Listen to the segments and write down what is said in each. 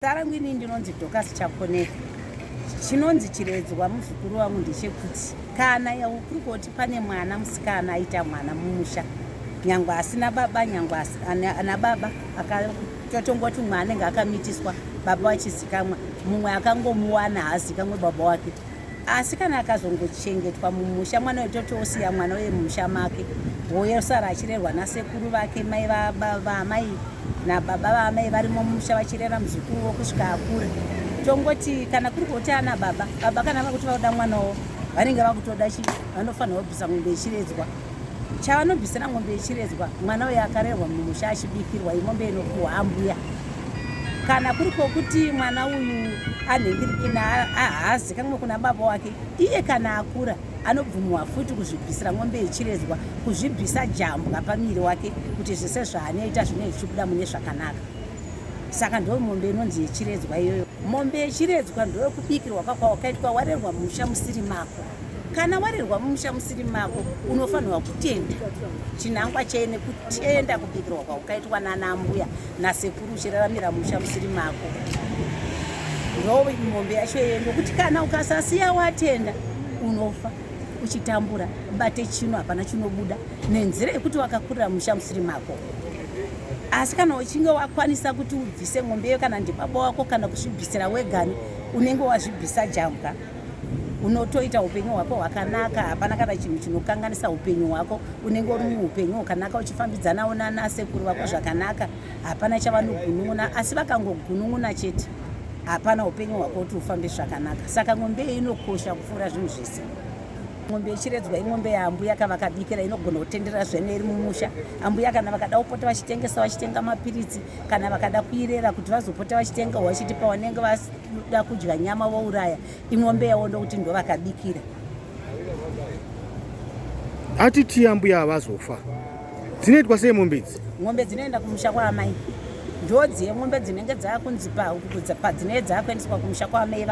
Zita rangu ini ndinonzi Dorcas Chakoneka. Chinonzi chiredzwa muzukuru wangu ndechekuti kana kuri kuti pane mwana musikana aita mwana mumusha nyangwe asina baba nyangwe ana baba totongoti mumwe anenge akamitiswa baba vachizikamwa mumwe akangomuwana haazikamwe baba wake asi kana akazongochengetwa mumusha mwana uyu toti osiya mwana uye mumusha make hoye osara achirerwa nasekuru vake mai vaamai nababa vaamai varimo mumusha vachirera muzukuru wo kusvika akura tongoti kana kuri kuti ana baba baba kana vakuti vauda mwana wo vanenge vakutoda chi vanofanirwa kubvisa mombe ichiredzwa chavanobvisira mombe ichiredzwa mwana uyo akarerwa mumusha achibikirwa imombe inopuhwa ambuya kana kuri kwokuti mwana uyu anhingirikina ahaazi kamwe kuna baba wake iye kana akura anobvumiwa futi kuzvibvisira mombe ichiredzwa kuzvibvisa jambwa pamiri wake kuti zvese zvaanoita zvine zvichibuda mune zvakanaka saka ndo mombe inonzi yechiredzwa iyoyo mombe yechiredzwa ndoyokubikirwa kwakwawakaitwa warerwa musha musiri mako kana warerwa mumusha musiri mako unofanirwa kutenda chinangwa chee nekutenda kubikirwa kwaukaitwa nana ambuya nasekuru uchiraramira musha musiri mako ndo mombe yacho yeye nokuti kana ukasasiya watenda unofa uchitambura bate chino hapana chinobuda nenzira yekuti wakakurira musha musiri mako asi kana uchinge wakwanisa kuti ubvise mombe iyo kana ndibaba wako kana kuzvibvisira wegani unenge wazvibvisa jamka unotoita upenyu hwako hwakanaka hapana kana chinhu chinokanganisa upenyu hwako unenge uri muupenyu hwakanaka uchifambidzanawo nanasekuru vako zvakanaka hapana chavanogunun'una asi vakangogunun'una chete hapana upenyu hwako kuti ufambe zvakanaka saka ngombe iyi inokosha kupfuura zvinhu zvese ngombe ichiredzwa ingombe yaambuya ka vakabikira inogona kutendera zvene iri mumusha ambuya kana vakada kupota vachitengesa vachitenga mapiritsi kana vakada kuirera kuti vazopota vachitenga wachitipa wanenge vas Kuda kudya nyama vouraya imombe yavo ndokuti ndovakabikira. Ati tiya mbuya havazofa. Dzinoitwa sei mombe idzi? Mombe dzinoenda kumusha kwaamai. Ndodzi yemombe dzinenge dzakunzi padzinenge dzakuendeswa kumusha kwaamai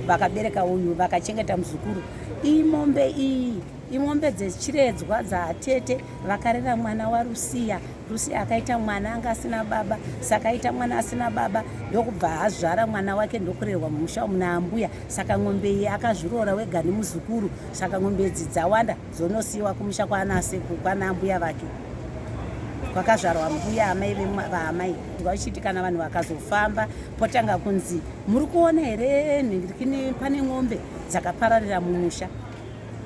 vakabereka uyu vakachengeta muzukuru. Iyi mombe iyi imombe dzechiredzwa dzatete vakarera mwana warusiya Rusi akaita mwana anga asina baba saka aita mwana asina baba ndokubva azvara mwana wake ndokurerwa mumusha umu naambuya saka ng'ombe iyi akazviroora wega nemuzukuru saka ng'ombe idzi dzawanda dzonosiyiwa kumusha kwanaseku kwanaambuya vake kwakazvarwa mbuya amai vaamai vachiti kana vanhu vakazofamba potanga kunzi muri kuona here pane ng'ombe dzakapararira mumusha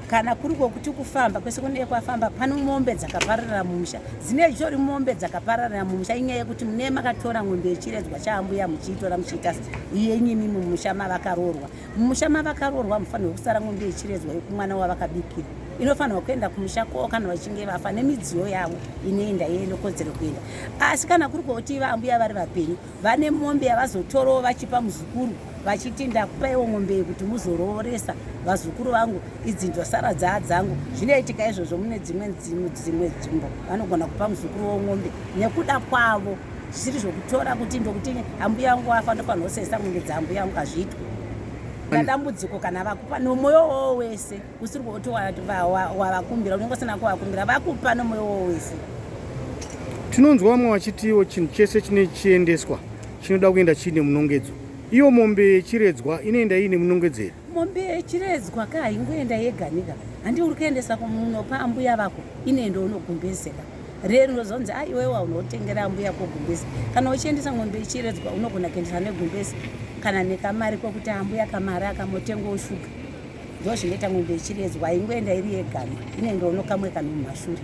kana kuri kwokuti kufamba kwese kunenge kwafamba pano mombe dzakapararira mumusha dzine zvitori mombe dzakapararira mumusha inyaya yekuti mune makatora n'ombe yechiredzwa chaambuya muchiitora muchiita yenyimi mumusha mavakaroorwa mumusha mavakaroorwa mufanirwe kusara n'ombe yechiredzwa yekumwana wavakabikira inofanirwa kuenda kumusha kwoo kana vachinge vafa nemidziyo yavo inoenda yeindokodzero kuenda asi kana kuri kwokuti iva ambuya vari vapenyu vane mombe yavazotorawo vachipa muzukuru vachiti ndakupaiwo mombe iyi kuti muzorooresa vazukuru vangu idzi ndosara dzaa dzangu zvinoitika izvozvo mune dzimwe dzimwe nzvimbo vanogona kupa muzukuru womombe nekuda kwavo zvisiri zvokutora kuti ndokuti ambuya yangu wafa ndofanira kusesa mombe dzaambuya yangu hazviitwe na dambudziko kana vakupa nomwoyo wowo wese usiri kuti wavakumbira unenge usina kuvakumbira vakupa nomwoyo wo wese tinonzwa vamwe vachitiwo chinhu chese chine chiendeswa chinoda kuenda chiine munongedzo iyo mombe yechiredzwa inoenda iine munongedzo here mombe yechiredzwa ka haingoenda yega nika handi uri kuendesa kunopa ambuya vako inoenda unogumbezeka rero unozonzi a iwewa unotengera ambuya kogumbezi kana uchiendesa mombe yechiredzwa unogona kuendesa negumbezi kana nekamari kwekuti ambuya kamari akamotengwa ushuga Ndozvinoita mombe ichiredzwa ingoenda iri yega inendono kamwe kanhu mumhashure.